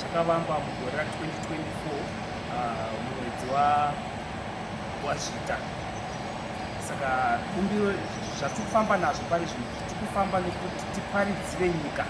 chakavamba mugore ra 2024 mumwedzi wa wazvita saka kumbiro zvatiri kufamba nazvo pari zvino tiri kufamba nekuti tiparidzire nyika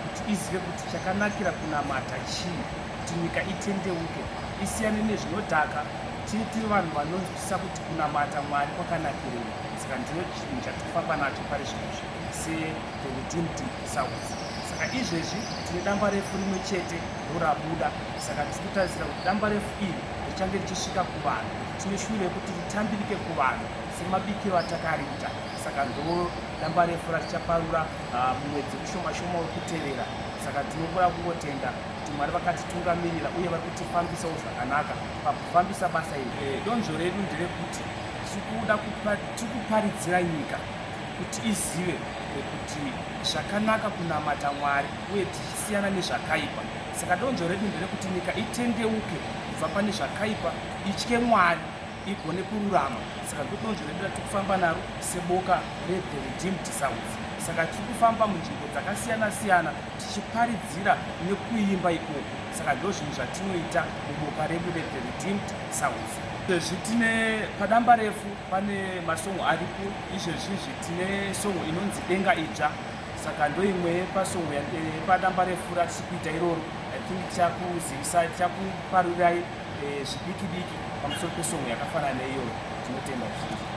kuti izive kuti chakanakira kunamata chii kuti nyika itendeuke isiyane nezvinodhaka tiri tiri vanhu vanonzwisisa kuti kunamata mwari kwakanakirei saka ndiro chinhu chatiri kufamba nacho pari zvino zvino se the redeemed South. Saka izvezvi tine damba refu rimwe chete rorabuda, saka tiri kutarisira kuti damba refu iri richange richisvika kuvanhu. Tine shuviro rekuti ritambirike kuvanhu semabikiro atakariita, saka ndo damba refu ratichaparura ah, mumwedzi mushoma shoma wekutevera. Saka tinongoda kungotenda kuti Mwari vakatitungamirira uye vari kutifambisawo zvakanaka pakufambisa basa iri. Eh, donzvo redu nderekuti tiri kuda kupa- tiri kuparidzira nyika kuti izive kuti zvakanaka kunamata mwari uye tichisiyana nezvakaipa saka donzvo redu nderekuti nyika itendeuke kubva pane zvakaipa itye mwari igone kururama saka ndodonzvo redu ratiri kufamba naro seboka rethe redeemed sounds saka tiri kufamba munzvimbo dzakasiyana siyana tichiparidzira nekuimba ikoko saka ndo zvinhu zvatinoita muboka redu rethe redeemed sounds sezvi tine padamba refu pane masongo aripo izvezvizvi tine songo inonzi denga idzva saka ndoimwe yepasongo yepadamba eh, refu ratisi kuita iroro i think tichakuzivisa tichakuparurirai eh, zvidiki diki pamusoro pesongo yakafanana neiyoyo tinotenda zvizhinji